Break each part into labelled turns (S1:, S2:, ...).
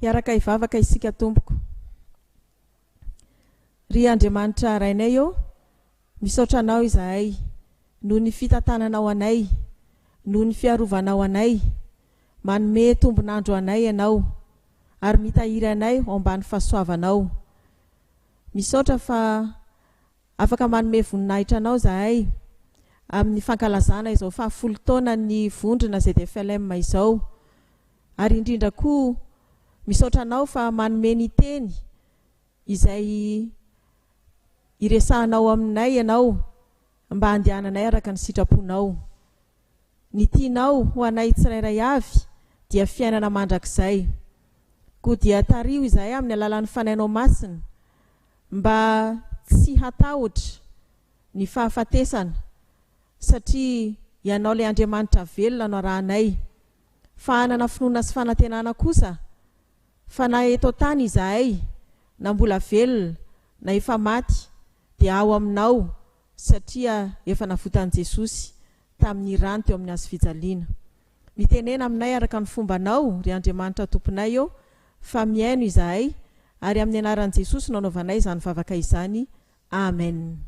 S1: Hiaraka hivavaka isika tompoko. Ry Andriamanitra Rainay ô, Misaotra Anao izahay noho ny fitantananao anay, noho ny fiarovanao anay, manome tombon'andro anay Ianao ary mitahiry anay ao ambany fahasoavanao. Misaotra fa afaka manome voninahitra Anao izahay amin'ny fankalazana izao fahafolo taonan'ny vondrona ZFLM izao, ary indrindra koa misaotra Anao fa manome ny teny izay iresahanao aminay ianao mba handehananay araka ny sitraponao. Ny tianao ho anay tsirairay avy dia fiainana mandrakizay. Koa dia tariho izahay amin'ny alalan'ny Fanainao Masina mba tsy hatahotra ny fahafatesana satria Ianao ilay Andriamanitra velona no arahanay, fa hanana finoana sy fanantenana kosa Fa na eto an-tany izahay, na mbola velona, na efa maty, dia ao Aminao, satria efa navotan'i Jesosy, tamin'ny Rany teo amin'ny Hazo fijaliana. Mitenena aminay araka ny fombanao, ry Andriamanitra Tomponay ô, fa mihaino izahay, ary amin'ny Anaran'i Jesosy no anaovanay izany vavaka izany. Amen.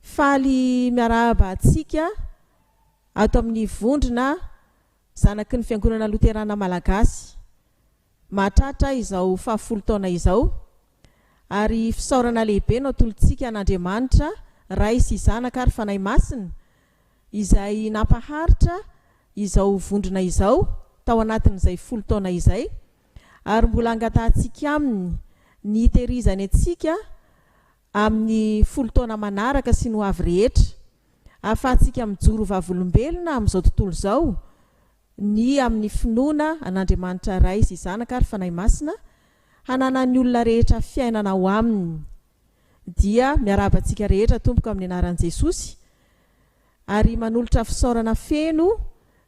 S1: Faly miarahaba antsika ato amin'ny vondrona zanaky ny Fiangonana Loterana Malagasy mahatratra izao fahafolo taona izao, ary fisaorana lehibe no atolotsika an'Andriamanitra Ray sy Zanaka ary Fanahy Masina izay nampaharitra izao vondrona izao tao anatin'izay folo taona izay ary mbola angatahantsika aminy ny hiterizany antsika amin'ny folo taona manaraka sy ny ho avy rehetra. Ahafahantsika mijoro ho vavolombelona amin'izao tontolo izao ny amin'ny finoana an'Andriamanitra Ray sy Zanaka ary Fanahy Masina hananan'ny olona rehetra fiainana ao Aminy. Dia miarahaba antsika rehetra, Tompoko, amin'ny anaran'i Jesosy. ary manolotra fisaorana feno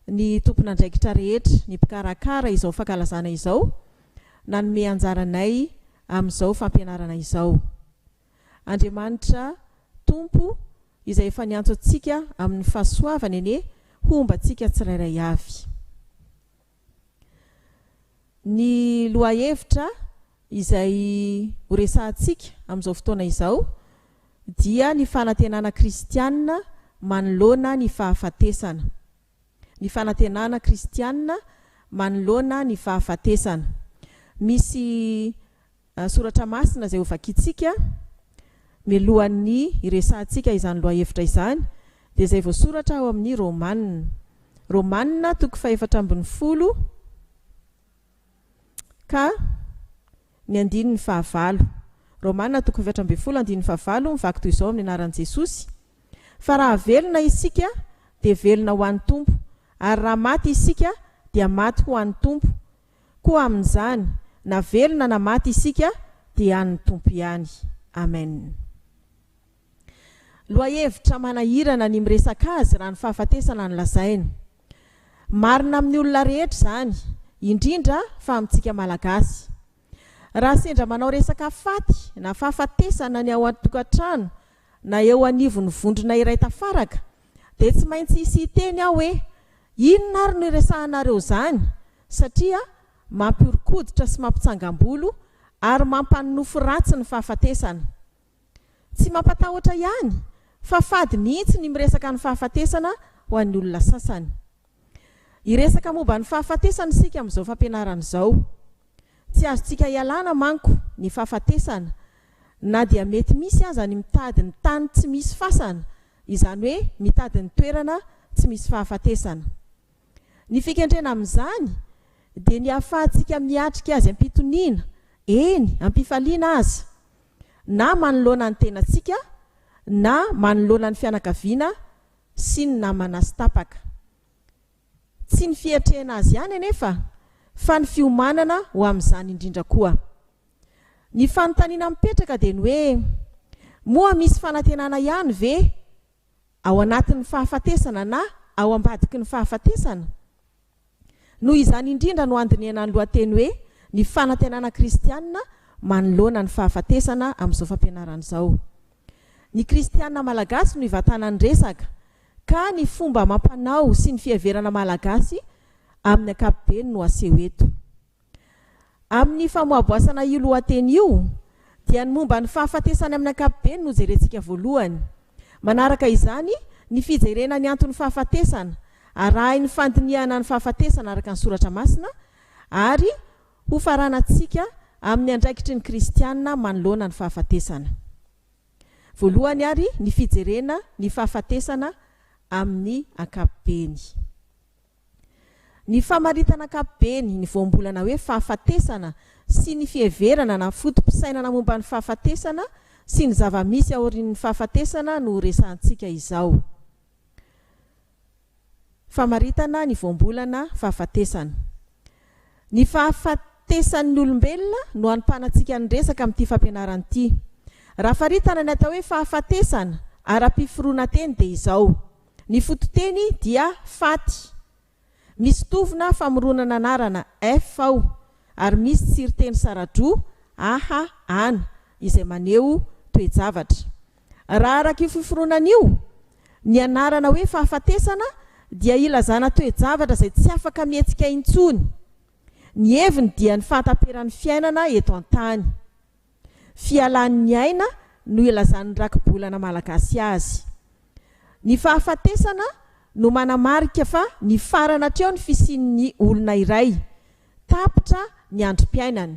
S1: ny tompon'andraikitra rehetra, ny mpikarakara izao fankalazana izao nanome anjara anay amin'izao fampianarana izao. Andriamanitra Tompo izay efa niantso antsika amin'ny fahasoavany anie homba antsika tsirairay avy. Ny lohahevitra izay horesahantsika amin'izao fotoana izao dia ny fanantenana kristiana manoloana ny fahafatesana. Ny fanantenana kristiana manoloana ny fahafatesana. Misy Soratra masina izay hovakintsika mialohan'ny hiresahantsika izany lohahevitra izany dia izay voasoratra ao amin'ny Romana, Romana toko fahefatra ambin'ny folo ka ny andininy fahavalo. Romana toko efatra ambin'ny folo andininy fahavalo mivaky toy izao amin'ny anaran'i Jesosy, Fa raha velona isika dia velona ho an'ny Tompo, ary raha maty isika dia maty ho an'ny Tompo, Koa amin'izany, na velona na maty isika dia an'ny Tompo ihany. Amen. Lohahevitra manahirana ny miresaka azy raha ny fahafatesana no lazaina. Marina amin'ny olona rehetra izany, indrindra fa amintsika Malagasy. Raha sendra manao resaka faty na fahafatesana ny ao an-tokantrano na eo anivon'ny vondrona iray tafaraka, dia tsy maintsy hisy hiteny aho hoe, Inona ary no iresahanareo izany? satria mampihoron-koditra sy mampitsangam-bolo ary mampanonofy ratsy ny fahafatesana. Tsy mampatahotra ihany, fa fady mihitsy ny miresaka ny fahafatesana ho an'ny olona sasany. Hiresaka momba ny fahafatesana isika amin'izao fampianarana izao. Tsy azontsika ialana manko ny fahafatesana, na dia mety misy aza ny mitady ny tany tsy misy fasana, izany hoe mitady ny toerana tsy misy fahafatesana. Ny fikendrena amin'izany dia ny ahafahantsika miatrika azy am-pitoniana, eny, am-pifaliana aza, na manoloana ny tenantsika, na manoloana ny fianakaviana sy ny namana sy tapaka. Tsy ny fiatrehana azy ihany anefa fa ny fiomanana ho amin'izany indrindra koa. Ny fanontaniana mipetraka dia ny hoe, moa misy fanantenana ihany ve ao anatin'ny fahafatesana na ao ambadiky ny fahafatesana? Noho izany indrindra no andinihana ny lohateny hoe ny fanantenana kristiana manoloana ny fahafatesana amin'izao fampianarana izao. Ny kristiana malagasy no ivantanan'ny resaka, ka ny fomba amam-panao sy ny fiheverana malagasy amin'ny ankapobeny no aseho eto. Amin'ny famoaboasana io lohateny io, dia ny momba ny fahafatesana amin'ny ankapobeny no jerentsika voalohany. Manaraka izany ny fijerena ny anton'ny fahafatesana, arahin'ny fandinihana ny fahafatesana araka ny soratra masina, ary Hofaranantsika amin'ny andraikitry ny kristiana manoloana ny fahafatesana. Voalohany ary ny fijerena ny fahafatesana amin'ny ankapobeny. Ny famaritana ankapobeny ny voambolana hoe fahafatesana sy ny fiheverana na foto-pisainana momba ny fahafatesana sy ny zava-misy aorian'ny fahafatesana no horesahantsika izao. Famaritana ny voambolana fahafatesana. Ny fahafatesan'ny olombelona no anompanantsika ny resaka amin'ity fampianarana ity. Raha faritana ny atao hoe fahafatesana ara-piforonan-teny dia izao, ny fototeny dia faty. Misy tovona famoronana anarana, ef, ao ary misy tsiriteny sara-droa, aha, ana, izay maneho toe-javatra. Raha araka io fiforonana io, ny anarana hoe fahafatesana dia ilazana toe-javatra izay tsy afaka mihetsika intsony. Ny heviny dia ny fahataperan'ny fiainana eto an-tany. Fialan'ny aina no ilazan'ny rakibolana malagasy azy. Ny fahafatesana no manamarika fa nifarana hatreo ny fisian'ny olona iray, tapitra ny androm-piainany.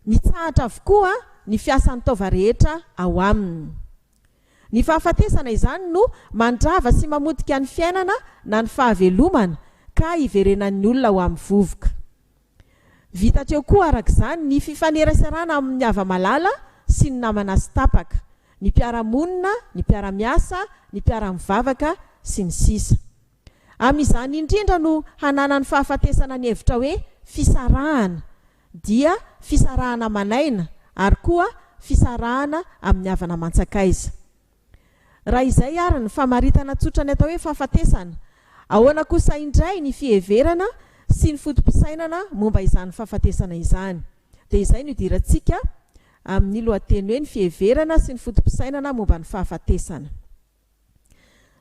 S1: Mitsahatra avokoa ny fiasan'ny taova rehetra ao aminy. Ny fahafatesana izany no mandrava sy mamotika ny fiainana na ny fahavelomana ka iverenan'ny olona ho amin'ny vovoka. Vita hatreo koa araka izany ny fifaneraserana amin'ny hava-malala sy ny namana sy tapaka, ny mpiara-monina, ny mpiara-miasa, ny mpiara-mivavaka, sy ny sisa. Amin'izany indrindra no hananany fahafatesana ny hevitra hoe fisarahana, dia fisarahana aman'aina ary koa fisarahana amin'ny havana aman-tsakaiza. Raha izay ary ny famaritana tsotra ny atao hoe fahafatesana, ahoana kosa indray ny fiheverana sy ny foto-pisainana momba izany fahafatesana izany? Dia izay no idirantsika amin'ny lohateny hoe ny fiheverana sy ny foto-pisainana momba ny fahafatesana.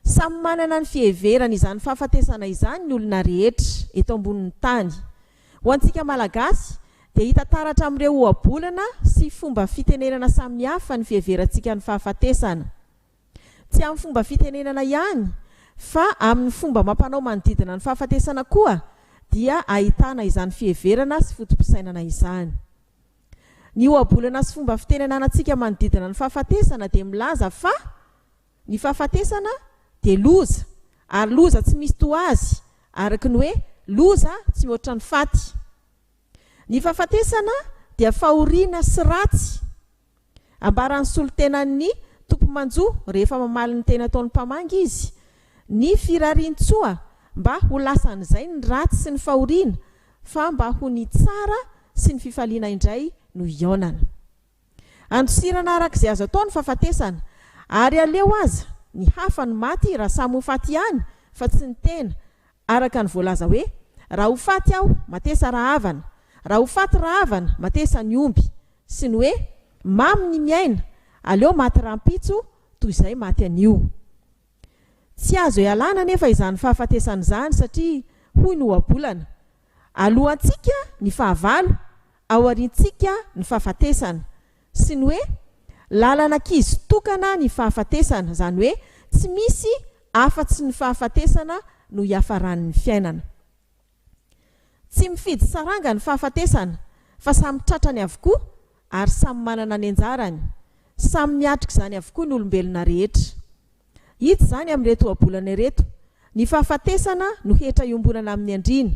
S1: Samy manana ny fiheverany izany fahafatesana izany ny olona rehetra eto ambonin'ny tany. Ho antsika Malagasy dia hita taratra amin'ireo ohabolana sy fomba fitenenana samihafa ny fiheverantsika ny fahafatesana. Tsy amin'ny fomba fitenenana ihany fa amin'ny fomba amam-panao manodidina ny fahafatesana koa dia ahitana izany fiheverana sy foto-pisainana izany. Ny ohabolana sy fomba fiteny ananantsika manodidina ny fahafatesana dia milaza fa ny fahafatesana dia loza ary loza tsy misy toa azy, araka ny hoe loza tsy mihoatra ny faty. Ny fahafatesana dia fahoriana sy ratsy. Ambaran'ny solontenan'ny Tompo manjo rehefa mamaly ny teny ataon'ny mpamangy izy, ny firarian-tsoa mba ho lasan'izay ny ratsy sy ny fahoriana fa mba ho ny tsara sy ny fifaliana indray no hihaonana. Andosirana araka izay azo atao ny fahafatesana, ary aleo aza ny hafa no maty raha samy ho faty ihany fa tsy ny tena Araka ny voalaza hoe, Raha ho faty aho, matesa rahavana, raha ho faty rahavana, matesa ny omby, sy ny hoe, Mamy ny miaina, aleo maty rahampitso toy izay maty anio. Tsy azo ialana anefa izany fahafatesana izany satria hoy ny ohabolana, Alohantsika ny fahavalo, aoriantsika ny fahafatesana. sy ny hoe lalan'ankizy tokana ny fahafatesana, izany hoe tsy misy afa-tsy ny fahafatesana no hiafaran'ny fiainana. Tsy mifidy saranga ny fahafatesana fa samy tratrany avokoa ary samy manana ny anjarany, samy miatrika izany avokoa ny olombelona rehetra. Hita izany amin'ireto ohabolana ireto, ny fahafatesana no hetra iombonana amin'ny andriana,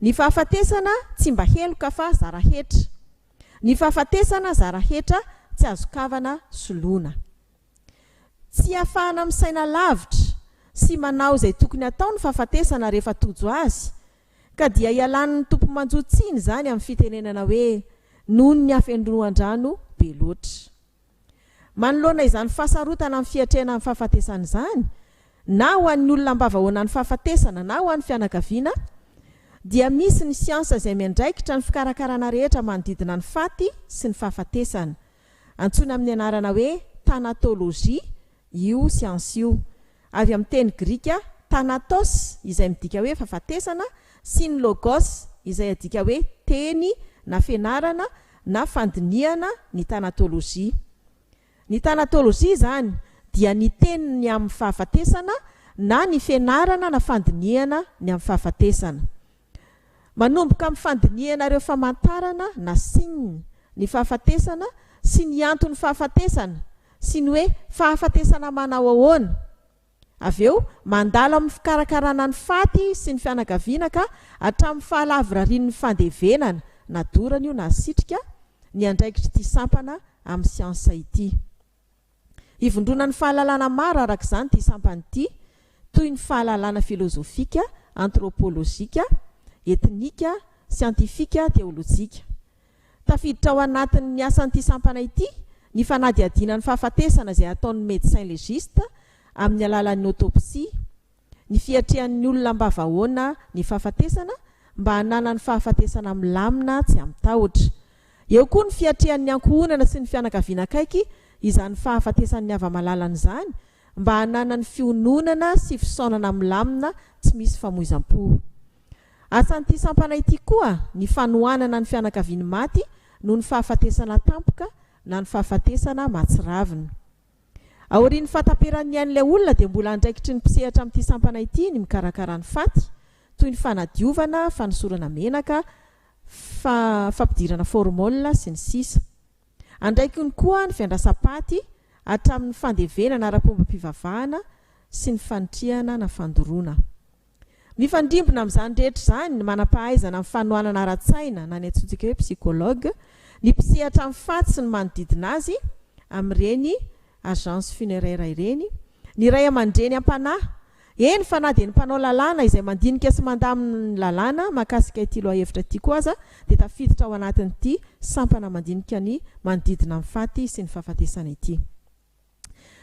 S1: ny fahafatesana tsy mba heloka fa zara hetra, Ny fahafatesana zara hetra tsy azo kavana soloina. Tsy afahana misaina lavitra sy manao izay tokony hatao ny fahafatesana rehefa tojo azy ka dia ialan'ny Tompo manjo tsiny izany amin'ny fitenenana hoe noho ny hafenoan-drano be loatra. Manoloana izany fahasarotana amin'ny fiatrehana ny fahafatesana izany, na ho an'ny olona ambavahaona ny fahafatesana na ho an'ny fianakaviana, dia misy ny siansa izay miandraikitra ny fikarakarana rehetra manodidina ny faty sy ny fahafatesana. Antsoina amin'ny anarana hoe thanatologie Io siansa io, avy amin'ny teny grika thanatos izay midika hoe fahafatesana sy ny logos izay adika hoe teny na fianarana na fandinihana ny tanatolojia. Ny tanatolojia izany dia ny teny ny amin'ny fahafatesana na ny fianarana na fandinihana ny amin'ny fahafatesana. Manomboka amin'ny fandinihana ireo famantarana na signe ny fahafatesana sy ny anton'ny fahafatesana sy ny hoe fahafatesana manao ahoana. Avy eo, mandalo amin'ny fikarakarana ny faty sy ny fianakaviana ka hatramin'ny fahalavorarian'ny fandevenana, na dorana io na sitrika, ny andraikitr'ity sampana amin'ny siansa ity. Ivondronan'ny fahalalana maro araka izany ity sampana ity, toy ny fahalalana filozofika, antrôpôlôjika, etnika, siantifika, teôlôjika. Tafiditra ao anatin'ny asan'ity sampana ity ny fanadihadiana ny fahafatesana izay ataon'ny médecin légiste amin'ny alalan'ny autopsie, ny fiatrehan'ny olona ambavahoana ny fahafatesana mba hananany fahafatesana milamina tsy amin-tahotra. Eo koa ny fiatrehan'ny ankohonana sy ny fianakaviana akaiky izany fahafatesan'ny hava-malalany izany mba hananany fiononana sy fisaonana milamina tsy misy famoizam-po. Asan'ity sampana ity koa ny fanohanana ny fianakavian'ny maty noho ny fahafatesana tampoka na ny fahafatesana mahatsiravina. Aorian'ny fahataperan'ny ain'ilay olona dia mbola andraikitry ny mpisehatra amin'ity sampana ity ny mikarakara ny faty, toy ny fanadiovana, fanosorana menaka, fa fampidirana formol sy ny sisa Andraikiny koa ny fiandrasam-paty hatramin'ny fandevenana ara-pombam-pivavahana sy ny fanitrihana na fandoroana. Mifandrimbona amin'izany rehetra izany ny manam-pahaizana amin'ny fanohanana ara-tsaina na ny antsointsika hoe psychologue, ny mpisehatra amin'ny faty sy ny manodidina azy amin'ireny agence funéraire ireny, ny ray aman-dreny am-panahy, eny fa na dia ny mpanao lalàna izay mandinika sy mandamina ny lalàna mahakasika ity lohahevitra ity koa aza dia tafiditra ao anatin'ity sampana mandinika ny manodidina ny faty sy ny fahafatesana ity.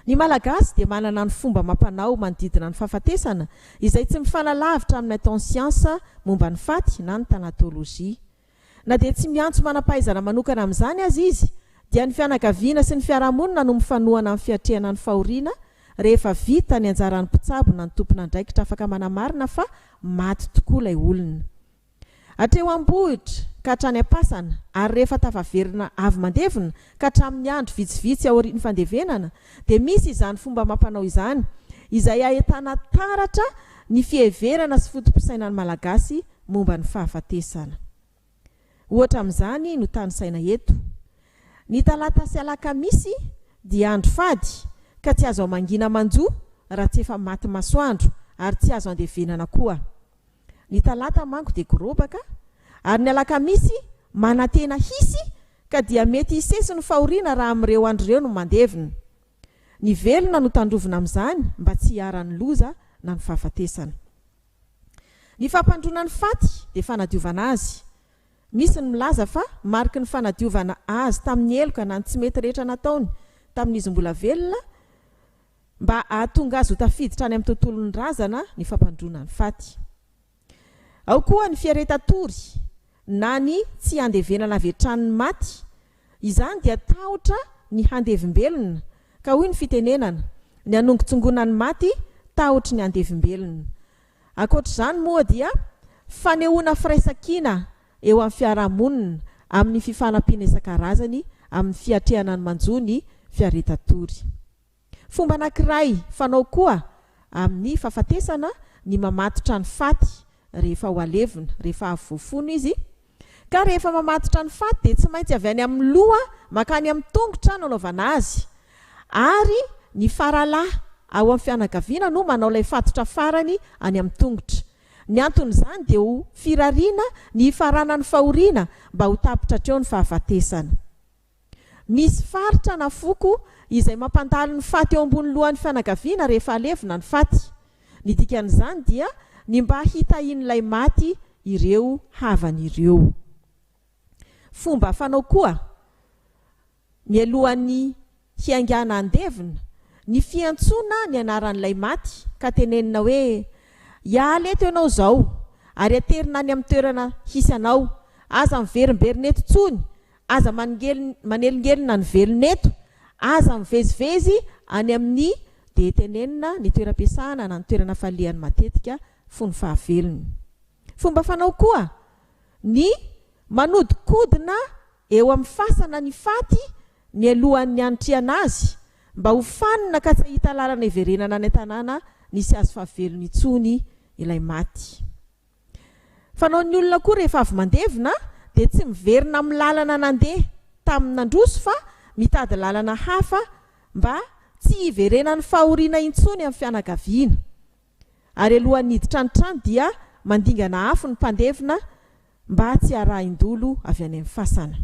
S1: Ny Malagasy dia manana ny fomba amam-panao manodidina ny fahafatesana izay tsy mifanalavitra amin'ny ataon'ny siansa momba ny faty na ny tanatolojia. Na dia tsy miantso manam-pahaizana manokana amin'izany aza izy dia ny fianakaviana sy ny fiarahamonina no mifanohana amin'ny fiatrehana ny fahoriana rehefa vita ny anjaran'ny mpitsabo na ny tompon'andraikitra afaka manamarina fa maty tokoa ilay olona. Hatreo am-bohitra ka hatrany am-pasana, ary rehefa tafaverina avy mandevona ka hatramin'ny andro vitsivitsy aorian'ny fandevenana, dia misy izany fomba amam-panao izany, izay ahitana taratra ny fiheverana sy foto-pisainan'ny Malagasy momba ny fahafatesana. Ohatra amin'izany no tanisaina eto. Ny talata sy alakamisy dia andro fady ka tsy azo hamangina manjo raha tsy efa maty masoandro, ary tsy azo andevenana koa. Ny talata manko dia gorobaka ary ny alakamisy manantena hisy ka dia mety hisesy ny fahoriana raha amin'ireo andro ireo no mandevina. Ny velona no tandrovina amin'izany mba tsy hiharan'ny loza na ny fahafatesana. Ny fampandroana ny faty dia fanadiovana azy. Misy ny milaza fa mariky ny fanadiovana azy tamin'ny heloka na ny tsy mety rehetra nataony tamin'izy mbola velona mba hahatonga azy ho tafiditra any amin'ny tontolon'ny razana ny fampandroana ny faty. Ao koa ny fiereta-tory na ny tsy handevenana avy hatrany ny maty, izany dia tahotra ny handevim-belona, ka hoy ny fitenenana, ny hanongotsongona ny maty tahotry ny handevim-belona. Ankoatr'izany moa dia fanehoana firaisan-kina eo amin'ny fiarahamonina amin'ny fifanampiana isan-karazany amin'ny fiatrehana ny manjo ny fiareta-tory. Fomba anankiray fanao koa amin'ny fahafatesana ny mamatotra ny faty rehefa ho alevina, rehefa avy voafono izy, ka rehefa mamatotra ny faty dia tsy maintsy avy any amin'ny loha mankany amin'ny tongotra no anaovana azy, ary ny faralahy ao amin'ny fianakaviana no manao ilay fatotra farany any amin'ny tongotra. Ny anton'izany dia ho firariana ny hifaranan'ny fahoriana mba ho tapitra hatreo ny fahafatesana. Misy faritra na foko izay mampandalo ny faty eo ambony lohan'ny fianakaviana rehefa alevina ny faty. Ny dikan'izany dia ny mba hitahian'ilay maty ireo havany ireo. Fomba fanao koa, mialohan'ny hiaingàna handevina, ny fiantsoana ny anaran'ilay maty ka tenenina hoe, Hiala eto ianao izao, ary aterina any amin'ny toerana hisy anao. Aza miverimberina eto intsony, Aza manelingelina ny velona eto, aza mivezivezy any amin'ny dia tenenina ny toeram-piasana na ny toerana falehany matetika fony fahavelony. Fomba fanao koa ny manodikodina eo amin'ny fasana ny faty mialohan'ny hanitrihana azy mba ho fanina ka tsy hahita lalana hiverenana any an-tanàna nisy azy fahavelony intsony ilay maty. Fanao ny olona koa rehefa avy mandevina dia tsy miverina amin'ny lalana nandeha tamin'ny nandroso fa mitady lalana hafa mba tsy hiverenan'ny fahoriana intsony amin'ny fianakaviana. Ary alohan'ny hiditra ny trano dia mandingana afo ny mpandevina mba tsy harahin-dolo avy any amin'ny fasana.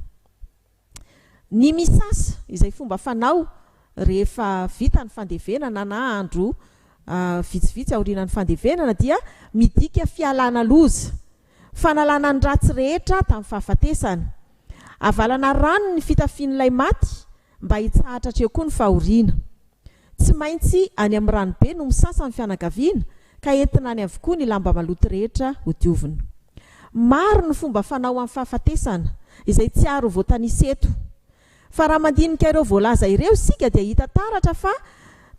S1: Ny misasa, izay fomba fanao rehefa vita ny fandevenana na andro vitsivitsy aorianan'ny fandevenana dia midika fialana loza, fanalana ny ratsy rehetra tamin'ny fahafatesana. Avalana rano ny fitafian'ilay maty mba hitsahatra hatreo koa ny fahoriana. Tsy maintsy any amin'ny ranobe no misasa ny fianakaviana ka entina any avokoa ny lamba maloto rehetra hodiovina. Maro ny fomba fanao amin'ny fahafatesana, izay tsy ary ho voatanisa eto. Fa raha mandinika ireo voalaza ireo isika dia hita taratra fa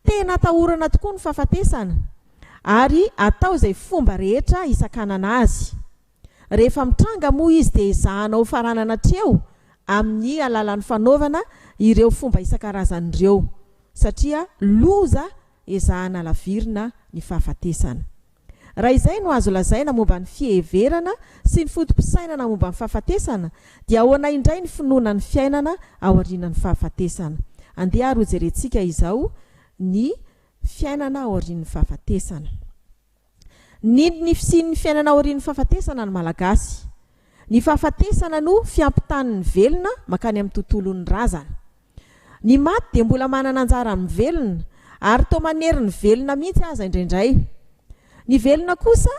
S1: tena atahorana tokoa ny fahafatesana ary atao izay fomba rehetra hisakanana azy. Rehefa mitranga moa izy dia ezahana hofaranana hatreo amin'ny alalan'ny fanaovana ireo fomba isan-karazany ireo satria loza ezahana alavirina ny fahafatesana. Raha izay no azo lazaina momba ny fiheverana sy ny foto-pisainana momba ny fahafatesana dia ahoana indray ny finoana ny fiainana aorianan'ny fahafatesana? Andeha ary hojerentsika izao ny fiainana aorian'ny fahafatesana. Nino ny fisian'ny fiainana aorian'ny fahafatesana ny Malagasy. Ny fahafatesana no fiampitanin'ny velona mankany amin'ny tontolon'ny razana. Ny maty dia mbola manana anjara amin'ny velona, ary toa manery ny velona mihitsy aza indraindray. Ny velona kosa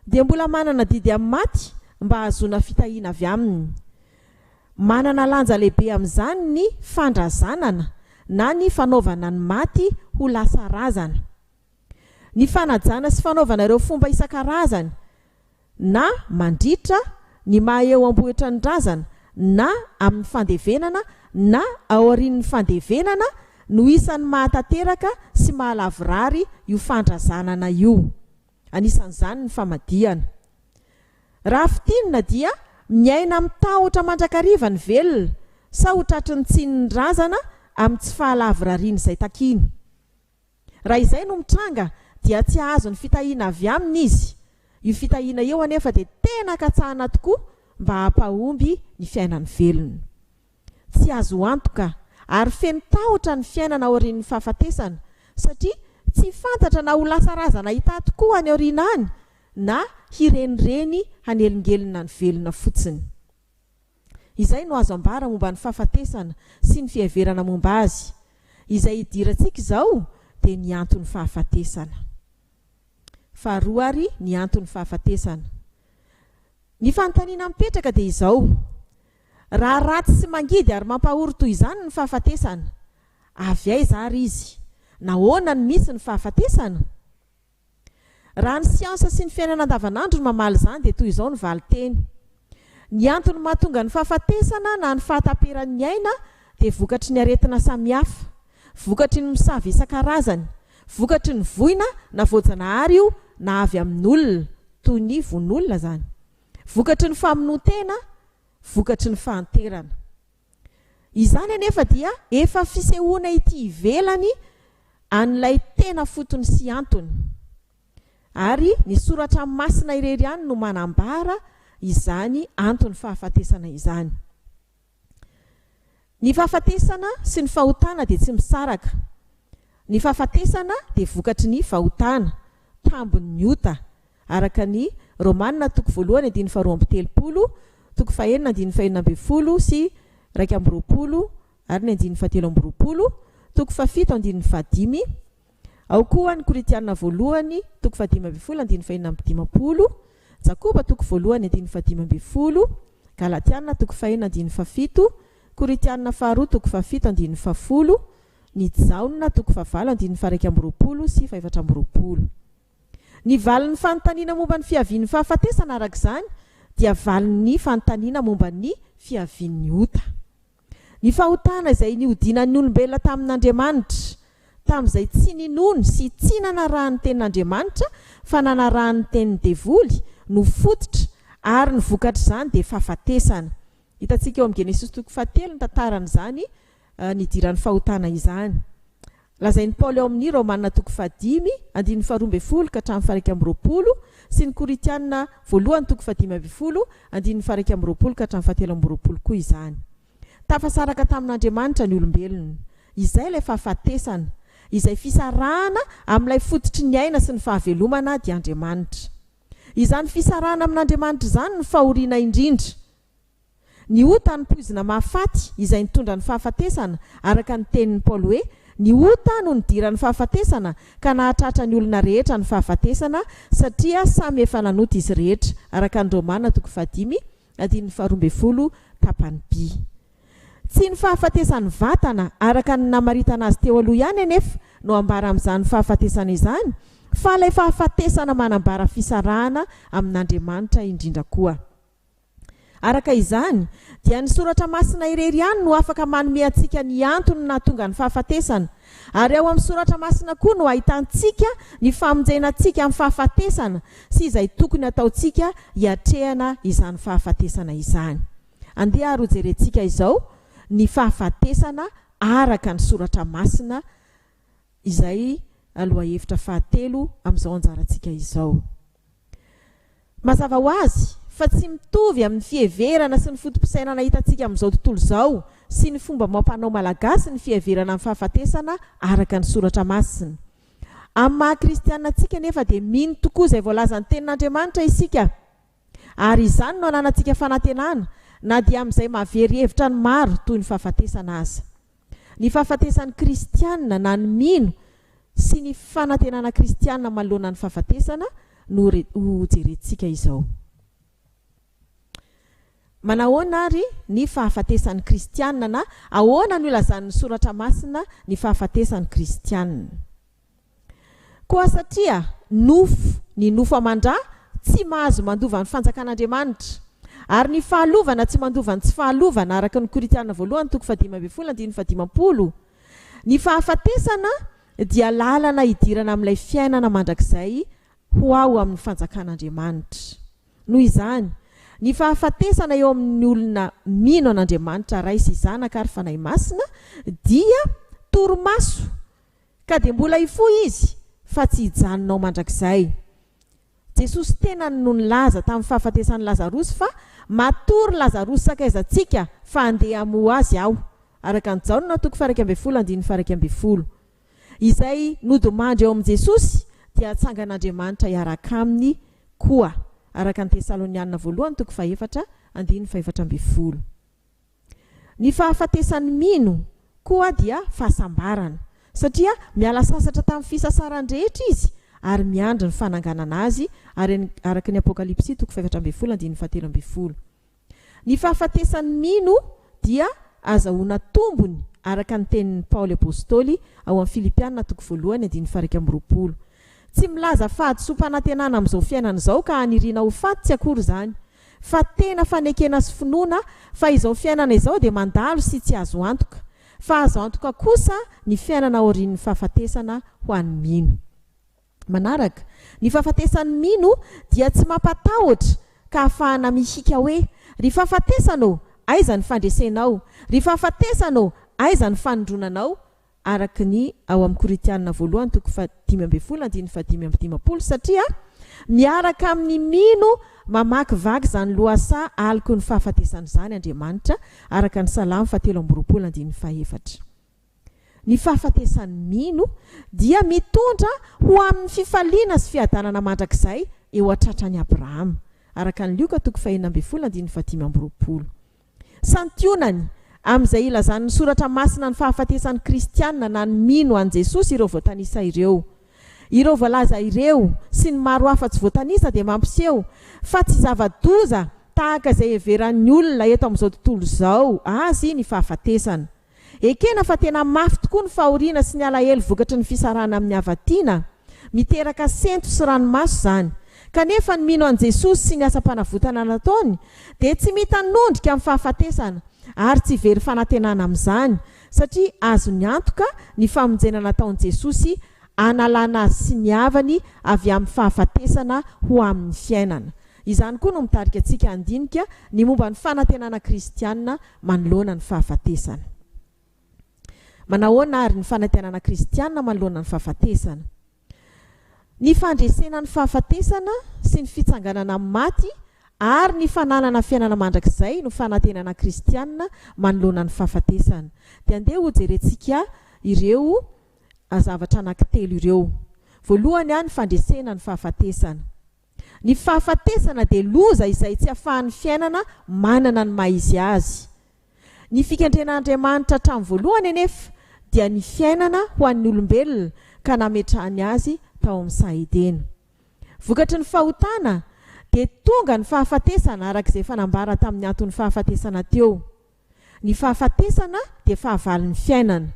S1: dia mbola manana didy amin'ny maty mba hahazoana fitahiana avy aminy. Manana lanja lehibe amin'izany ny fandrazanana na ny fanaovana ny maty ho lasa razana. Ny fanajana sy fanaovana ireo fomba isan-karazany na mandritra ny maha eo am-bohitra ny razana na amin'ny fandevenana na aorian'ny fandevenana no isan'ny mahatanteraka sy mahalavorary io fandrazanana io. Anisan'izany ny famadihana. Raha fintinina dia miaina amin'ny tahotra mandrakariva ny velona sa ho tratry ny tsinin'ny razana amin'ny tsy fahalavorarian'izay takiany. Raha izay no mitranga dia tsy hahazo ny fitahiana avy aminy izy. Io fitahiana io anefa dia tena katsahana tokoa mba hampahomby ny fiainany velona. Tsy azo antoka ary feno tahotra ny fiainana aorian'ny fahafatesana satria tsy fantatra na ho lasa razana hità tokoa any aoriana any na hirenireny hanelingelina ny velona fotsiny. Izay no azo ambara momba ny fahafatesana sy ny fiheverana momba azy. Izay idirantsika izao dia ny anton'ny fahafatesana. Faharoa ary ny anton'ny fahafatesana. Ny fanontaniana mipetraka dia izao, Raha ratsy sy mangidy ary mampahory toy izany ny fahafatesana, avy aiza ary izy? Nahoana no misy ny fahafatesana? Raha ny siansa sy ny fiainana andavanandro no mamaly izany dia toy izao ny valinteny, Ny antony mahatonga ny fahafatesana na ny fahataperan'ny aina dia vokatry ny aretina samihafa, vokatry ny mosavy isan-karazany, vokatry ny voina na voajanahary io na avy amin'olona, toy ny vononolona izany, vokatry ny famonoan-tena, vokatry ny fahanterana. Izany anefa dia efa fisehoana ety ivelany an'ilay tena fotony sy antony. Ary ny soratra masina irery ihany no manambara izany anton'ny fahafatesana izany. Ny fahafatesana sy ny fahotana dia tsy misaraka. Ny fahafatesana dia vokatry ny fahotana, tambin'ny ota, araka ny Romana toko voalohany andininy faharoa amby telopolo, toko fahenina andininy fahenina ambin'ny folo sy iraika amby roapolo ary ny andininy fahatelo amby roapolo, toko fahafito andininy fahadimy, ao koa ny Korintiana voalohany toko fahadimy ambin'ny folo andininy fahenina amby dimampolo, Jakoba toko voalohany andininy fahadimy ambin'ny folo, Galatiana toko fahenina andininy fahafito, Korintiana faharoa toko fahafito andininy fahafolo, ny Jaona toko fahavalo andininy faharaika amby roapolo sy fahefatra amby roapolo. Ny valin'ny fanontaniana momba ny fiavian'ny fahafatesana, araka izany, dia valin'ny fanontaniana momba ny fiavian'ny ota. Ny fahotana izay nihodinan'ny olombelona tamin'Andriamanitra, tamin'izay tsy ninoany sy tsy nanarahan'ny tenin'Andriamanitra fa nanarahan'ny tenin'ny devoly, no fototra, ary ny vokatr'izany dia fahafatesana. Hitantsika ao amin'ny Genesosy toko fahatelo ny tantaran'izany. nidiran'ny fahotana izany. Lazain'i Paoly ao amin'ny Romana toko fahadimy andininy faharoa ambin'ny folo ka hatramin'ny faharaika amby roapolo sy ny Korintiana voalohany toko fahadimy ambin'ny folo andininy faharaika amby roapolo ka hatramin'ny fahatelo amby roapolo koa izany. Tafasaraka tamin'Andriamanitra ny olombelona. Izay ilay fahafatesana. Izay fisarahana amin'ilay fototry ny aina sy ny fahavelomana dia Andriamanitra. Izany fisarahana amin'Andriamanitra izany no fahoriana indrindra. Ny ota no poizina mahafaty, izay nitondra ny fahafatesana, araka ny tenin'i Paoly hoe, Ny ota no nidiran'ny fahafatesana, ka nahatratra ny olona rehetra ny fahafatesana, satria samy efa nanota izy rehetra, araka ny Romana toko fahadimy, andininy faharoa ambin'ny folo, tapany by. Tsy ny fahafatesan'ny vatana, araka ny namaritana azy teo aloha ihany anefa, no ambara amin'izany fahafatesana izany, fa ilay fahafatesana manambara fisarahana amin'Andriamanitra indrindra koa. Araka izany, dia ny Soratra Masina irery ihany no afaka manome antsika ny antony nahatonga ny fahafatesana. Ary ao amin'ny Soratra Masina koa no ahitantsika ny famonjena antsika amin'ny fahafatesana sy izay tokony hataontsika hiatrehana izany fahafatesana izany. Andeha ary hojerentsika izao ny fahafatesana araka ny Soratra Masina. izay lohahevitra fahatelo amin'izao anjarantsika izao. Mazava ho azy fa tsy mitovy amin'ny fiheverana sy ny foto-pisainana hitantsika amin'izao tontolo izao sy ny fomba amam-panao malagasy ny fiheverana ny fahafatesana araka ny Soratra Masina. Amin'ny maha-kristiana antsika anefa dia mino tokoa izay voalazan'ny Tenin'Andriamanitra isika. Ary izany no ananantsika fanantenana na dia amin'izay mahavery hevitra ny maro toy ny fahafatesana aza. Ny fahafatesan'ny kristiana na ny mino sy ny fanantenana kristiana manoloana ny fahafatesana no hojerentsika izao. Manahoana ary ny fahafatesan'ny kristiana na ahoana no ilazan'ny soratra masina ny fahafatesan'ny kristiana? Koa satria nofo ny nofo aman-dra tsy mahazo mandova ny fanjakan'Andriamanitra, ary ny fahalovana tsy mandova ny tsy fahalovana, araka ny Korintiana voalohany toko fahadimy ambin'ny folo andininy fahadimampolo, ny fahafatesana dia lalana hidirana amin'ilay fiainana mandrakizay ho ao amin'ny fanjakan'Andriamanitra. Noho izany, ny fahafatesana eo amin'ny olona mino an'Andriamanitra Ray sy Zanaka ary Fanahy Masina dia torimaso Ka dia mbola hifoha Izy, fa tsy hijanona ho mandrakizay. Jesosy tenany no nilaza tamin'ny fahafatesan'i Lazarosy fa Matory Lazarosy sakaizantsika fa handeha hamoha azy Aho, araka an'i Jaona toko faha-iraika ambin'ny folo andininy faha-iraika ambin'ny folo. Izay nodimandry ao amin'i Jesosy dia hatsangan'Andriamanitra hiaraka Aminy koa, araka an'i Tesalonianina voalohany toko faha-efatra andininy faha-efatra ambin'ny folo. Ny fahafatesan'i Mino koa dia fahasambarana, satria miala sasatra tamin'ny fisasarany rehetra izy ary miandry ny fananganana azy, araka ny Apokalypsy toko fahefatra ambin'ny folo andininy fahatelo ambin'ny folo. Ny fahafatesan'i Mino dia azahoana tombony araka ny tenin'i Paoly Apostoly ao amin'ny Filipiana toko voalohany andininy fahairaika amby roapolo. Tsy milaza fahadisoam-panantenana amin'izao fiainana izao ka haniriana ho faty tsy akory izany, Fa tena fanekena sy finoana fa izao fiainana izao dia mandalo sy tsy azo antoka, fa azo antoka kosa ny fiainana aorian'ny fahafatesana ho an'ny mino. Manaraka, ny fahafatesan'ny mino dia tsy mampatahotra ka ahafahana mihiaka hoe, Ry fahafatesana ô, aiza ny fandresenao? Ry fahafatesana ô, aiza ny fanindronanao? araka ny ao amin'ny Korintianina voalohany toko fahadimy ambin'ny folo andininy fahadimy amby dimampolo, satria miaraka amin'ny mino mamakivaky izany lohasaha aloky ny fahafatesana izany Andriamanitra, araka ny Salamo fahatelo amby roapolo andininy fahefatra. Ny fahafatesan'ny mino dia mitondra ho amin'ny fifaliana sy fiadanana mandrakizay eo an-tratran'i Abrahama, araka ny Lioka toko fahenina ambin'ny folo andininy fahadimy amby roapolo. Santionany, amin'izay ilazan'ny Soratra Masina ny fahafatesan'ny Kristiana na ny mino an'i Jesosy ireo voatanisa ireo. Ireo voalaza ireo, sy ny maro hafa tsy voatanisa dia mampiseho fa tsy zava-doza tahaka izay heveran'ny olona eto amin'izao tontolo izao azy ny fahafatesana. Ekena fa tena mafy tokoa ny fahoriana sy ny alahelo vokatry ny fisarahana amin'ny havatiana. Miteraka sento sy ranomaso izany. Kanefa ny mino an'i Jesosy sy ny asam-panavotana nataony dia tsy mitanondrika amin'ny fahafatesana ary tsy very fanantenana amin'izany, satria azony antoka ny famonjena nataon'i Jesosy hanalana azy sy ny havany avy amin'ny fahafatesana ho amin'ny fiainana. Izany koa no mitarika antsika handinika ny momba ny fanantenana kristiana manoloana ny fahafatesana. Manahoana àry ny fanantenana kristianina manoloana ny fahafatesana? Ny fandresena ny fahafatesana sy ny fitsanganana amin'ny maty ary ny fananana fiainana mandrakizay no fanantenana kristianina manoloana ny fahafatesana. Dia andeha hojerentsika ireo zavatra anankitelo ireo. Voalohany, ny fandresena ny fahafatesana. Ny fahafatesana dia loza izay tsy afahan'ny fiainana manana ny maha izy azy. Ny fikendren'Andriamanitra hatramin'ny voalohany anefa dia ny fiainana ho an'ny olombelona ka nametrahany azy tao amin'ny saha Edena. Vokatry ny fahotana dia tonga ny fahafatesana araka izay efa nambara tamin'ny anton'ny fahafatesana teo. Ny fahafatesana dia fahavalon'ny fiainana.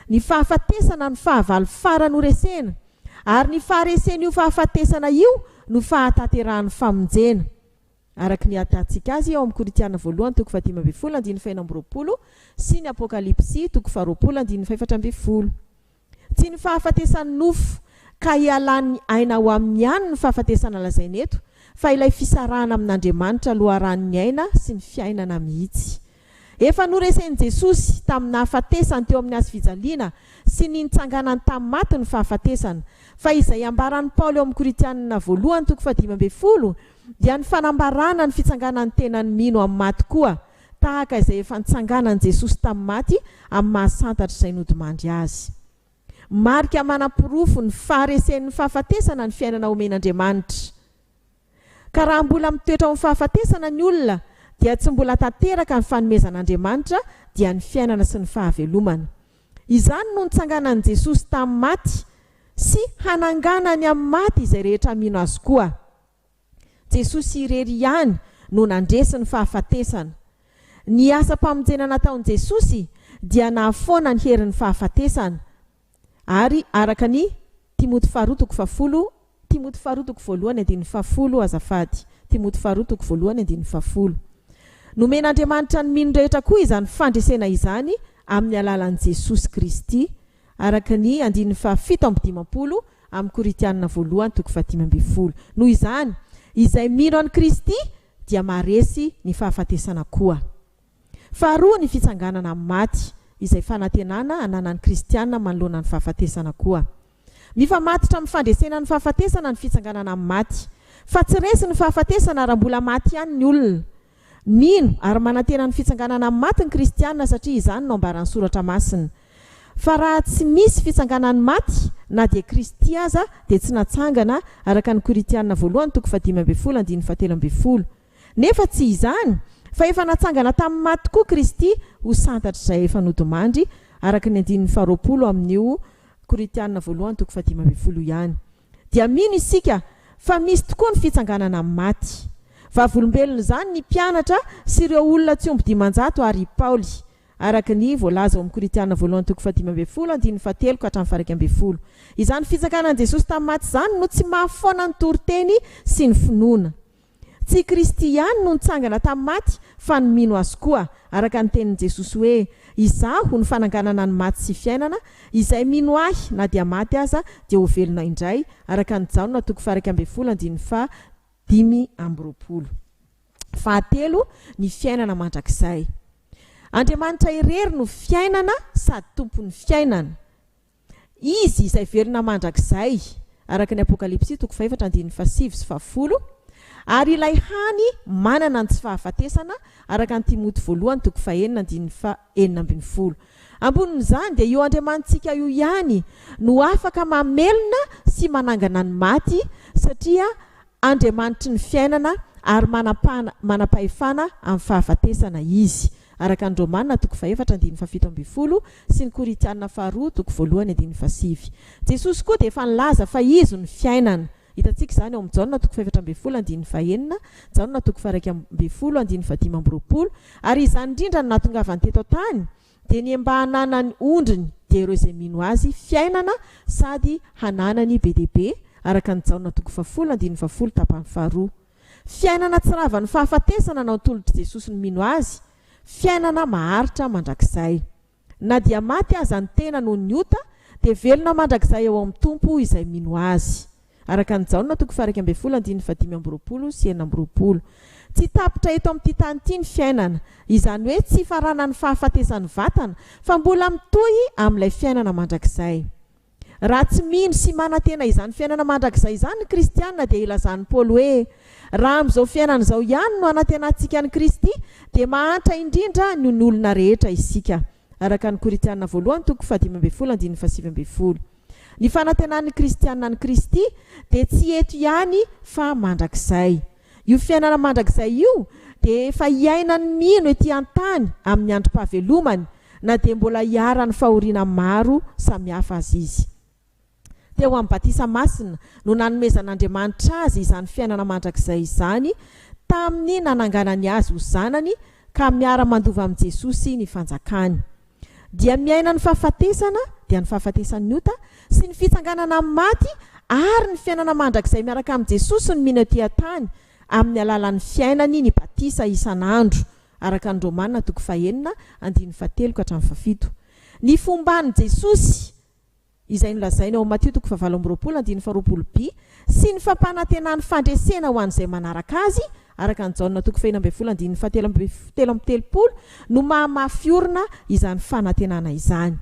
S1: Ny fahafatesana no fahavalo farany horesena, ary ny faharesen'io fahafatesana io no fahatanterahan'ny famonjena. Araka ny ahitantsika azy ao amin'ny Korintiana voalohany toko fahadimy ambin'ny folo andininy fahenina amby roapolo sy ny Apokalypsy toko faharoapolo andininy fahefatra ambin'ny folo. Tsy ny fahafatesan'ny nofo ka hialan'ny aina ao aminy ihany ny fahafatesana lazaina eto fa ilay fisarahana amin'Andriamanitra loharanon'ny aina sy ny fiainana mihitsy. Efa noresen'i Jesosy tamin'ny nahafatesany teo amin'ny hazofijaliana sy ny nitsanganany tamin'ny maty ny fahafatesana, fa izay ambaran'i Paoly ao amin'ny Korintianina voalohany toko fahadimy ambin'ny folo dia ny fanambarana ny fitsanganan'ny tenan'ny mino amin'ny maty koa tahaka izay efa nitsanganan'i Jesosy tamin'ny maty amin'ny maha-santatra izay nodimandry Azy. Marika manaporofo ny faharesen'ny fahafatesana ny fiainana omen'Andriamanitra. Ka raha mbola mitoetra ao amin'ny fahafatesana ny olona, dia tsy mbola tanteraka ny fanomezan'Andriamanitra, dia ny fiainana sy ny fahavelomana. Izany no nitsanganan'i Jesosy tamin'ny maty sy hananganany amin'ny maty izay rehetra mino Azy koa. Jesosy irery ihany no nandresy ny fahafatesana. Ny asam-pamonjena nataon'i Jesosy dia nahafoana ny herin'ny fahafatesana. Ary araka ny Timoty faharoa toko fahafolo, Timoty faharoa toko voalohany andininy fahafolo, azafady, Timoty faharoa toko voalohany andininy fahafolo. Nomen'Andriamanitra ny mino rehetra koa izany fandresena izany amin'ny alalan'i Jesosy Kristy, araka ny andininy fahafito amby dimampolo amin'ny Korintianina voalohany toko fahadimy ambin'ny folo. Noho izany, izay mino an'i Kristy dia maharesy ny fahafatesana koa. Faharoa ny fitsanganana amin'ny maty, izay fanantenana ananan'ny kristiana manoloana ny fahafatesana koa. Mifamatotra amin'ny fandresena ny fahafatesana ny fitsanganana amin'ny maty. Fa tsy resy ny fahafatesana raha mbola maty ihany ny olona. Mino ary manantena ny fitsanganana amin'ny maty ny kristiana satria izany no ambaran'ny soratra masina. Fa raha tsy misy fitsanganan'ny maty na dia Kristy aza dia tsy natsangana araka ny Korintiana voalohany toko fahadimy ambin'ny folo andininy fahatelo ambin'ny folo. Nefa tsy izany fa efa natsangana tamin'ny maty tokoa Kristy ho santatr'izay efa nodimandry araka ny andininy faharoapolo amin'io Korintiana voalohany toko fahadimy ambin'ny folo io ihany. dia mino isika fa misy tokoa ny fitsanganana amin'ny maty. Vavolombelon'izany ny mpianatra sy ireo olona tsy omby dimanjato àry i Paoly, araka ny voalaza ao amin'ny Korintiana voalohany toko fahadimy ambin'ny folo andininy fahatelo ka hatramin'ny faharaika ambin'ny folo. Izany fitsanganan'i Jesosy tamin'ny maty izany no tsy mahafoana ny toriteny sy ny finoana. Tsy i Kristy ihany no nitsangana tamin'ny maty fa ny mino Azy koa, araka ny tenin'i Jesosy hoe, Izaho no fananganana ny maty sy fiainana, izay mino Ahy na dia maty aza dia ho velona indray, araka ny Jaona toko faha-iraika ambin'ny folo andininy faha-dimy amby roapolo. Fahatelo, ny fiainana mandrakizay. Andriamanitra irery no fiainana sady Tompon'ny fiainana. Izy izay velona mandrakizay, araka ny Apokalypsy toko fahefatra andininy fahasivy sy fahafolo, ary ilay hany manana ny tsy fahafatesana, araka ny Timoty voalohany toko fahenina andininy fahenina ambin'ny folo. Ambonin'izany, dia io Andriamanitsika io ihany no afaka mamelona sy manangana ny maty, satria Andriamanitry ny fiainana ary manampahana manam-pahefana amin'ny fahafatesana Izy. Araka ny Romana toko fahefatra andininy fahafito ambin'ny folo sy ny Korintiana faharoa toko voalohany andininy fahasivy. Jesosy koa dia efa nilaza fa Izy no fiainana. Hitantsika izany ao amin'ny Jaona toko fahefatra ambin'ny folo andininy fahenina, Jaona toko faharaika ambin'ny folo andininy fahadimy amby roapolo, ary izany indrindra no nahatongavany teto an-tany, Dia ny mba hananany ondriny dia ireo izay mino Azy fiainana sady hananany be dia be, araka ny Jaona toko fahafolo andininy fahafolo tapany faharoa. Fiainana tsy ravan'ny fahafatesana nantolotr'i Jesosy ny mino Azy, fiainana maharitra mandrakizay. Na dia maty aza ny tena noho ny ota, dia velona mandrakizay ao amin'ny Tompo izay mino Azy. araka an'i Jaona toko faha iraika ambin'ny folo andininy faha dimy amby roapolo sy enina amby roapolo. Tsy tapitra eto amin'ity tany ity ny fiainana, izany hoe tsy hifaranan'ny fahafatesan'ny vatana, fa mbola mitohy amin'ilay fiainana mandrakizay. Raha tsy mino sy manantena izany fiainana mandrakizay izany ny kristiana dia ilazan'i Paoly hoe, Raha amin'izao fiainana izao ihany no anantenantsika an'i Kristy, dia mahantra indrindra noho ny olona rehetra isika. araka ny Korintiana voalohany toko fahadimy ambin'ny folo andininy fahasivy ambin'ny folo. Ny fanantenan'ny kristiana an'i Kristy dia tsy eto ihany fa mandrakizay. Io fiainana mandrakizay io dia efa iainan'ny mino ety an-tany amin'ny androm-pahavelomany na dia mbola iharan'ny fahoriana maro samihafa aza izy. Teo amin'ny batisa masina no nanomezan'Andriamanitra azy izany fiainana mandrakizay izany tamin'ny nananganany azy ho zanany ka miara-mandova amin'i Jesosy ny fanjakany. Dia miaina ny fahafatesana, dia ny fahafatesan'ny ota, sy ny fitsanganana amin'ny maty ary ny fiainana mandrakizay miaraka amin'i Jesosy ny mino ety an-tany amin'ny alalan'ny fiainany ny batisa isan'andro araka ny Romana toko fahenina andininy fahatelo ka hatramin'ny fahafito. Ny fomban'i Jesosy izay nolazainy ao Matio toko fahavalo amby roapolo andininy faharoapolo bi, sy ny fampanantenany fandresena ho an'izay manaraka azy, araka an'i Jaona toko fahefatra ambin'ny folo andininy fahatelo amby telo amby telopolo, no mahamafy orina izany fanantenana izany.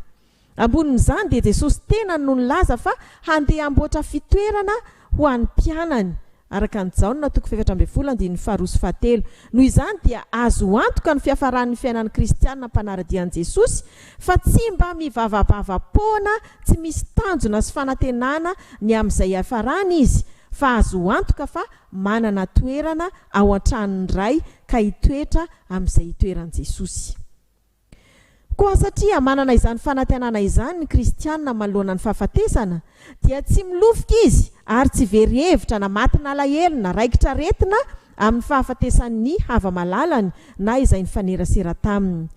S1: Ambonin'izany dia Jesosy tenany no nilaza fa handeha hamboatra fitoerana ho an'ny mpianany araka an'i Jaona toko fahefatra ambin'ny folo andininy faharoa sy fahatelo. Noho izany dia azo antoka ny fiafaran'ny fiainan'ny kristiana mpanara-dia an'i Jesosy fa tsy mba mivavabava poana tsy misy tanjona sy fanantenana ny amin'izay hiafarany izy fa azo antoka fa manana toerana ao an-tranon'ny Ray ka hitoetra amin'izay itoeran'i Jesosy. Koa satria manana izany fanantenana izany ny kristiana manoloana ny fahafatesana, dia tsy milofika izy ary tsy very hevitra na matin'alahelo na raikitr'aretina amin'ny fahafatesan'ny hava-malalany na izay nifanerasera taminy.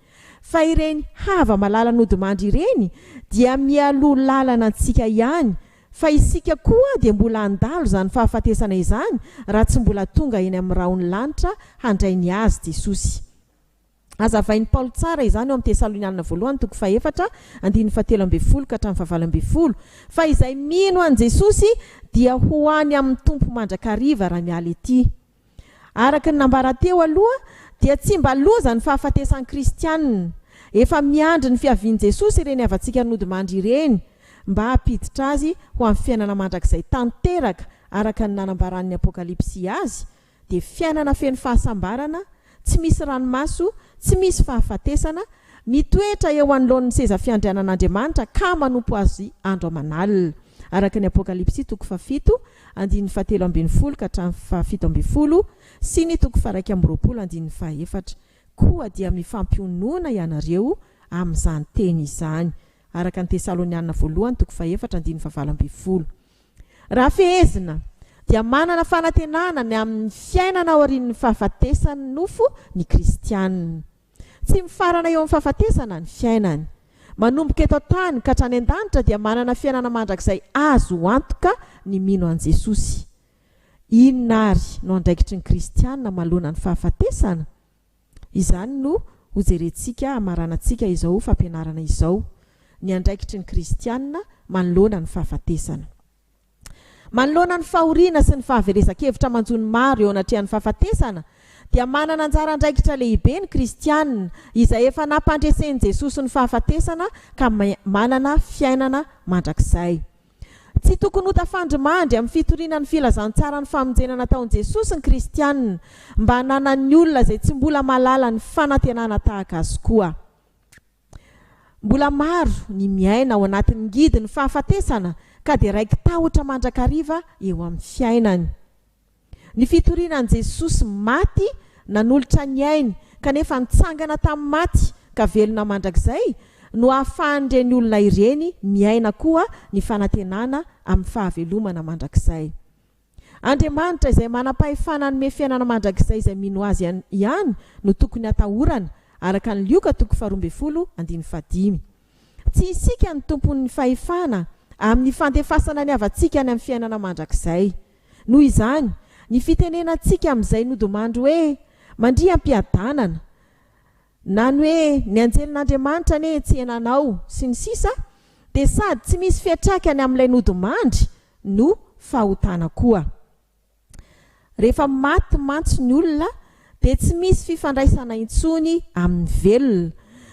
S1: Fa ireny hava-malala nodimandry ireny dia mialoha lalana antsika ihany, fa isika koa dia mbola handalo izany fahafatesana izany raha tsy mbola tonga eny amin'ny rahon'ny lanitra handray ny Azy Jesosy. Hazavain'i Paoly tsara izany ao amin'ny Tesalonianina Voalohany toko fahefatra, andininy fahatelo ambin'ny folo ka hatramin'ny fahavalo ambin'ny folo, Fa izay mino an'i Jesosy dia ho any amin'ny Tompo mandrakariva raha miala etỳ. Araka ny nambarà teo aloha, dia tsy mba loza ny fahafatesan'ny Kristianina. Efa miandry ny fiavian'i Jesosy ireny havantsika nodimandry ireny, mba hampiditra azy ho amin'ny fiainana mandrakizay tanteraka, araka ny nanambaràn'ny Apokalypsy azy, dia fiainana feno fahasambarana, tsy misy ranomaso, tsy misy fahafatesana, mitoetra eo anoloan'ny seza fiandrianan'Andriamanitra ka manompo Azy andro aman'alina. Araka ny Apokalypsy toko fahafito, andininy fahatelo ambin'ny folo ka hatramin'ny fahafito ambin'ny folo, sy ny toko faharaika amby roapolo andininy fahefatra, Koa dia mifampionona ianareo amin'izany teny izany. Araka ny Tesalonianina Voalohany toko fahefatra andininy fahavalo ambin'ny folo. Raha fehezina, dia manana fanantenana ny amin'ny fiainana aorian'ny fahafatesan'ny nofo ny kristiana. Tsy mifarana eo amin'ny fahafatesana ny fiainany. Manomboka eto an-tany ka hatrany an-danitra dia manana fiainana mandrakizay azo antoka ny mino an'i Jesosy. Inona àry no andraikitry ny kristiana manoloana ny fahafatesana? Izany no hojerentsika hamaranantsika izao fampianarana izao, ny andraikitry ny kristiana manoloana ny fahafatesana. Manoloana ny fahoriana sy ny fahaverezan-kevitra manjo ny maro eo anatrehan'ny fahafatesana, dia manana anjara andraikitra lehibe ny kristiana izay efa nampandresen'i Jesosy ny fahafatesana ka manana fiainana mandrakizay. Tsy tokony ho tafandrimandry amin'ny fitoriana ny filazantsaran'ny famonjena nataon'i Jesosy ny kristiana, mba hananan'ny olona izay tsy mbola mahalala ny fanantenana tahaka azy koa. Mbola maro ny miaina ao anatin'ny ngidin'ny fahafatesana ka dia raiki-tahotra mandrakariva eo amin'ny fiainany. Ny fitoriana an'i Jesosy maty nanolotra ny ainy kanefa nitsangana tamin'ny maty ka velona mandrakizay no ahafahan'ireny olona ireny miaina koa ny fanantenana amin'ny fahavelomana mandrakizay. Andriamanitra izay manam-pahefana hanome fiainana mandrakizay izay mino Azy ihany no tokony hatahorana, araka ny Lioka toko faharoa ambin'ny folo andininy fahadimy. Tsy isika no tompon'ny fahefana amin'ny fandefasana ny havantsika any amin'ny fiainana mandrakizay. Noho izany, ny fitenenantsika amin'izay nodimandry hoe mandria am-piadanana, na ny hoe ny anjelin'Andriamanitra anie hetsehina anao, sy ny sisa dia sady tsy misy fiantraikany amin'ilay nodimandry no fahotana koa. Rehefa maty mantsy ny olona dia tsy misy fifandraisana intsony amin'ny velona.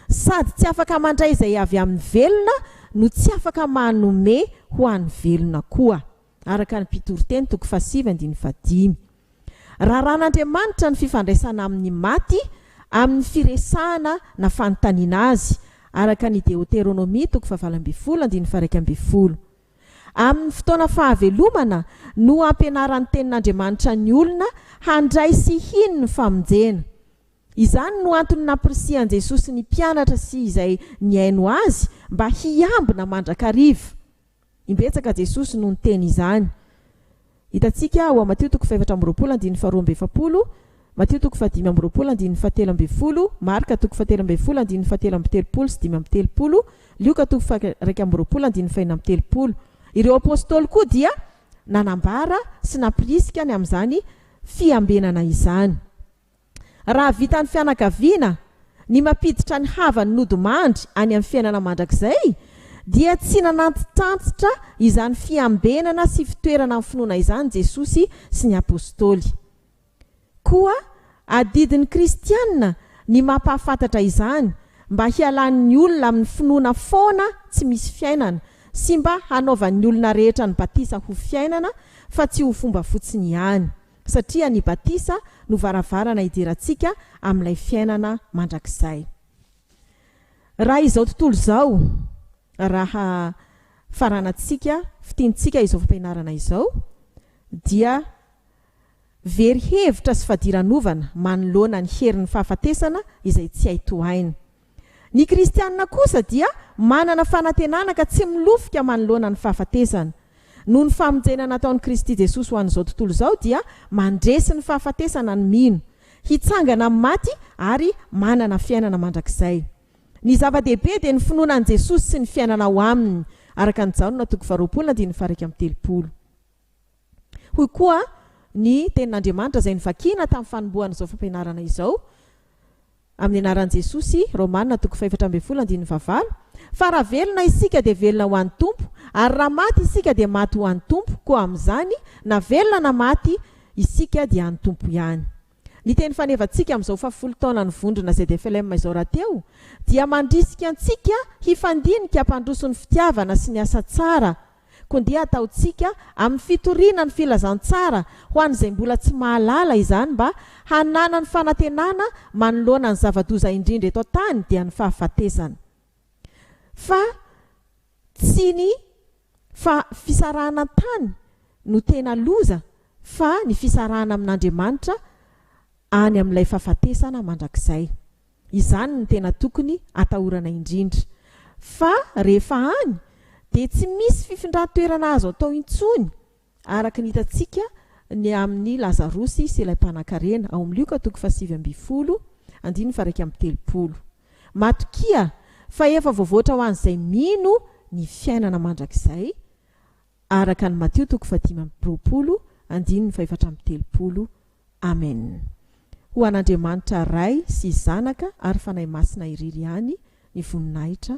S1: Sady tsy afaka mandray izay avy amin'ny velona no tsy afaka manome ho an'ny velona koa. araka ny Mpitoriteny toko fahasivy andininy fahadimy. Raran'Andriamanitra ny fifandraisana amin'ny maty amin'ny firesahana na fanontaniana Azy, araka ny Deoteronomia toko fahavalo ambin'ny folo andininy faharaika ambin'ny folo. Amin'ny fotoana fahavelomana no ampianaran'ny Tenin'Andriamanitra ny olona handray sy hino ny famonjena. Izany no antony nampirisihan'i Jesosy ny mpianatra sy izay nihaino Azy mba hiambina mandrakariva. Imbetsaka Jesosy no niteny izany. Hitantsika ao Matio toko fahefatra amby roapolo andininy faharoa amby efapolo, Matio toko fahadimy amby roapolo andininy fahatelo ambin'ny folo, Marka toko fahatelo ambin'ny folo andininy fahatelo amby telopolo sy dimy amby telopolo, Lioka toko faharaika amby roapolo andininy fahenina amby telopolo. Ireo Apostoly koa dia nanambara sy nampirisika ny amin'izany fiambenana izany. Raha vitan'ny fianakaviana ny mampiditra ny havany nodimandry any amin'ny fiainana mandrakizay, dia tsy nanantitrantitra izany fiambenana sy fitoerana amin'ny finoana izany Jesosy sy ny apostoly. Koa adidin'ny Kristianina ny mampahafantatra izany, mba hialan'ny olona amin'ny finoana foana tsy misy fiainana, sy mba hanaovan'ny olona rehetra ny batisa ho fiainana, fa tsy ho fomba fotsiny ihany. Satria ny batisa no varavarana hidirantsika amin'ilay fiainana mandrakizay. Raha izao tontolo izao raha faranantsika, fitiantsika izao fampianarana izao, dia very hevitra sy fadiranovana manoloana ny herin'ny fahafatesana izay tsy hay tohaina. Ny kristiana kosa dia manana fanantenana ka tsy milofika manoloana ny fahafatesana. Noho ny famonjena nataon'i Kristy Jesosy ho an'izao tontolo izao dia mandresy ny fahafatesana ny mino, hitsangana amin'ny maty ary manana fiainana mandrakizay. Ny zava-dehibe dia ny finoana an'i Jesosy sy ny fiainana ao Aminy, araka an'i Jaona toko faharoapolo andininy faha iraika amby telopolo. Hoy koa ny Tenin'Andriamanitra izay novakina tamin'ny fanombohan'izao fampianarana izao, amin'ny anaran'i Jesosy, Romana toko fahefatra ambin'ny folo andininy fahavalo, Fa raha velona isika dia velona ho an'ny Tompo, ary raha maty isika dia maty ho an'ny Tompo, koa amin'izany, na velona na maty, isika dia an'ny Tompo ihany. Ny teny fanevantsika amin'izao fahafolo taonan'ny vondrona ZFLM izao rahateo dia mandrisika antsika hifandinika hampandroso ny fitiavana sy ny asa tsara koa ndeha ataontsika amin'ny fitoriana ny filazantsara ho an'izay mbola tsy mahalala izany mba hananany fanantenana manoloana ny zava-doza indrindra eto an-tany dia ny fahafatesana. Fa tsy ny fa fisarahana an-tany no tena loza fa ny fisarahana amin'Andriamanitra any amin'ilay fahafatesana mandrakizay. Izany no tena tokony atahorana indrindra. Fa rehefa any dia tsy misy fifindran-toerana azo atao intsony. Araka ny hitantsika ny amin'ny Lazarosy sy ilay mpanankarena, ao amin'ny Lioka toko fahasivy ambin'ny folo, andininy faharaika amby telopolo. Matokia fa efa voavoatra ho an'izay mino ny fiainana mandrakizay, araka an'i Matio toko fahadimy amby roapolo, andininy fahefatra amby telopolo, Amen. Ho an'Andriamanitra Ray sy Zanaka ary Fanahy Masina irery ihany ny voninahitra.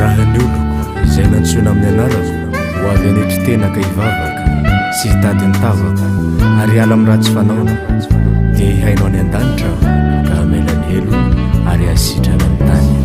S2: Raha ny oloko izay nantsoina amin'ny anarako ho avy any an-kitenaka hivavaka sy hitady ny tavako ary hiala amin'ny ratsy fanaony dia hihaino any an-danitra aho ka hamela ny helo ary hasitrana ny tany.